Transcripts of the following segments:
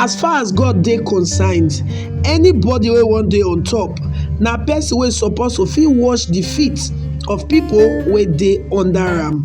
As far as God dey concerned, anybody wey wan dey on top na person wey suppose to fit wash the feet of people wey dey under am.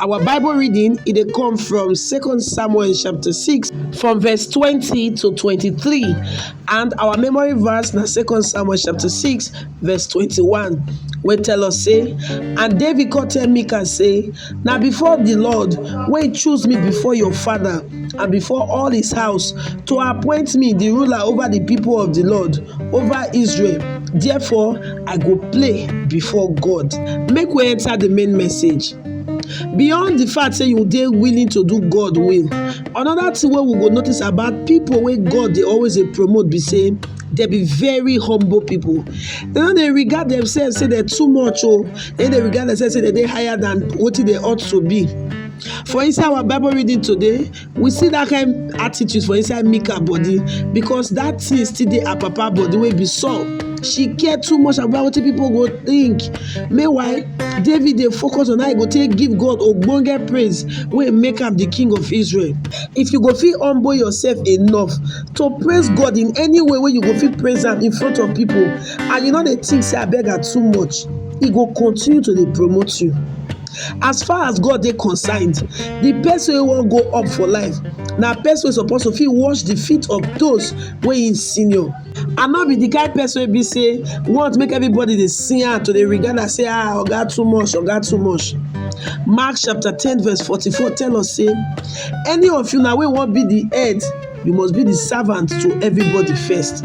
Our Bible reading it dey come from Second Samuel chapter 6 from verse 20 to 23 and our memory verse na Second Samuel chapter 6 verse 21 wey tell us say and David come tell Michal say na before the Lord wey choose me before your father and before all his house, to appoint me the ruler over the people of the Lord, over Israel. Therefore, I go play before God. Make we enter the main message. beyond the fact say you dey willing to do god will another thing wey we go notice about people wey god dey always dey promote be say they be very humble people they no dey regard themselves say they too much o oh. they dey regard themselves say they dey higher than wetin they ought to be For inside our Bible reading today, we see that kind attitude for inside Mika body because that thing still dey her papa body wey be Saul. She care too much about what people go think. Meanwhile, David dey focus on how he go take give God ogbonge praise wey make am the king of Israel. If you go fit humble yourself enough to praise God in any way wey you go fit praise am in front of people and you no dey think say I beg am too much, he go continue to dey promote you. as far as God dey concerned, the person wey wan go up for life na person wey suppose to fit wash the feet of those wey him senior and not be the kind person wey be say want make everybody dey see am to dey regard am say ah oga too much oga too much mark chapter ten verse forty-four tell us say any of you na wey wan be the head you must be the servant to everybody first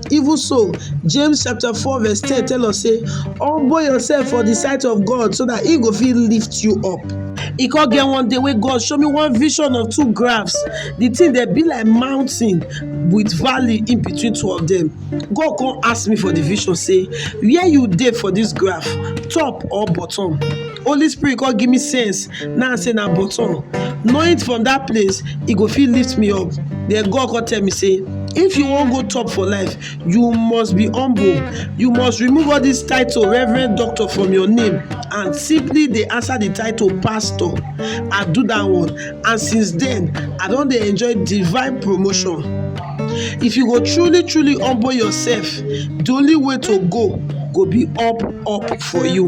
Even so, James chapter 4 verse 10 tell us say, humble yourself for the sight of God so that he go fit lift you up. E come get one day wey God show me one vision of two graphs. The thing dey be like mountain with valley in between two of them. God come ask me for the vision say, where you dey for this graph, top or bottom? Holy spirit come give me sense Now say na bottom. Knowing from that place, e go fit lift me up. Then God come tell me say, if you wan go top for life, you must be humble. You must remove all this title, Reverend Doctor, from your name and simply dey answer the title Pastor. I do that one and since then, I don dey enjoy divine promotion. If you go truly truly humble yourself, the only way to go go be up up for you.